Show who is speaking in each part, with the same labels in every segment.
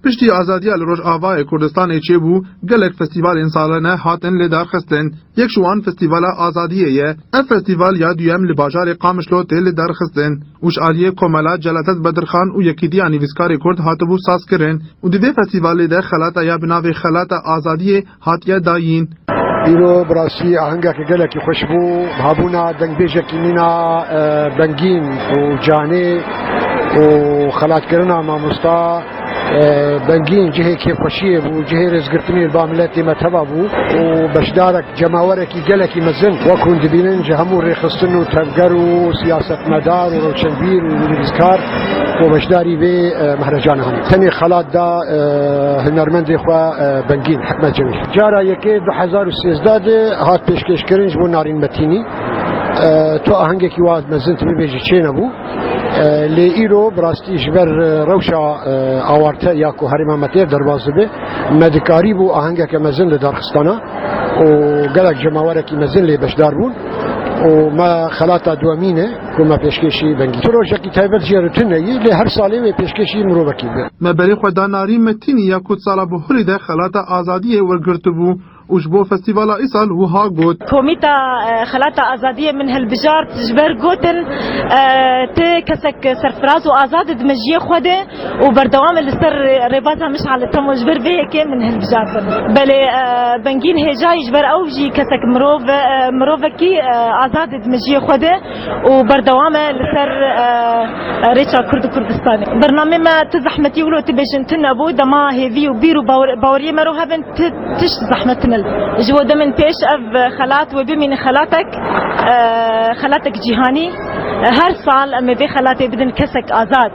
Speaker 1: Piştî azadiya li Rojavayê Kurdistanê çêbû, gelek festîvalên salane hatin lê darxistin. Yek ji wan Festîvala Azadiyê ye. Ev festîval ya duyem li bajarê Qamişlo tê li darxistin û ji aliyê Komela Celadet Bedirxan û Yekîtiya Nivîskarê Kurd hatibû sazkirin û di vê festîvalê de xelata ya bi navê Xelata Azadiyê hatiye dayîn. Îro bi
Speaker 2: rastî ahengekî gelekî xweş bû, habûna dengbêjekî mîna bengîn û canê û xelatkirina mamosta Bengîn cihê kêfxweşiyê bû, cihê rêzgirtinê li ba miletê me teva bû û beşdarek cemawerekî gelekî mezin wek hûn dibînin ji hemû rêxistin û tevger û siyasetmedar û rewşenbîr û nivîskar û beşdarî vê mehrecana hebûn. Tenê xelat da hunermendê xwe Bengîn Hikmet Cemîl. Cara yekê du hezar û sêzdeh de hat pêşkêşkirin ji bo Narîn Metînî. Tu ahengekî wiha mezin tu bibêjî çênebû. Lê îro bi rastî ji ber rewşa awarte ya ku herêma me têr derbas dibe me dikarîbû ahengeke mezin li darxistana û gelek cemawerekî mezin lê beşdar bûn û me xelata duwemîn e. Ku me pêşkêşî vengî. Tu rojekî taybet jê re tune yî, lê her salê wê pêşkêşî mirovekî bike. Me berê xwe da Narîn
Speaker 1: Metînî ya ku sala Bihurî de Xelata Azadiyê wergirtibû û ji bo festîvala îsal wiha got. Komîta
Speaker 3: Xelata Azadiyê min hilbijart ji ber gotin, Ti kesek serfiraz û azad î di mejiyê xwe de. û berdewam e li ser rêbaza Mişal li Temo ji ber vê yekê min hilbijartin. Belê Bengîn Hêjayî ji ber ew jî kesek mirov e, mirovekî azad e di mejiyê xwe de û berdewam e li ser rêça Kurd û Kurdistanê. Bernameyê me tu zehmetî wilo tu bêjin tune bû, dema hêvî û bîr û baweriyê me ro hebin tu tişt zehmet tune li. Ji we demên pêş ev xelat wê bimîne xelatek, xelatek cîhanî. Her sal em ê vê xelatê bidin kesek azad.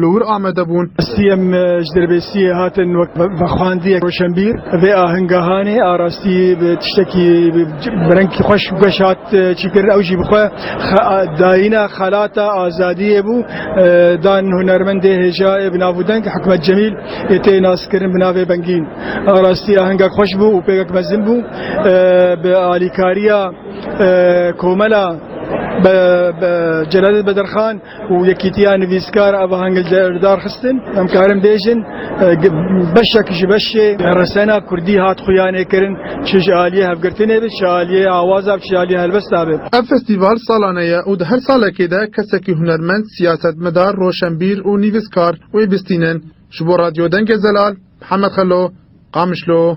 Speaker 1: li wir amade bûn. Siyem ji
Speaker 4: Dirbêsiyê hatin wek vexwendiyek roşenbîr. Vê ahingehanê a rastî bi tiştekî bi rengekî xweş û geş hat çîkirin. Ew jî bi xwe dayîna xelata azadiyê bû. Dan hunermendê hêjayê bi nav û deng Hikmet Cemîl ê tê naskirin bi navê Bengîn. A rastî ahengek xweş bû û pêgek mezin bû. Bi alîkariya komela Celalettin Bedirxan û Yekîtiya Nivîskar ev aheng li ser dar xistin, em karin bêjin beşek ji beşê resena kurdî hat xuyanêkirin çi ji aliyê hevgirtinê be, çi ji aliyê awaza be, çi ji aliyê helbesta be. Ev festîval salane
Speaker 1: ye û di her salekê de kesekî hunermend, siyasetmedar, roşenbîr û nivîskar wê bistînin. Ji bo Radyo Dengê Zelal, Mihemed Xelo, Qamişlo.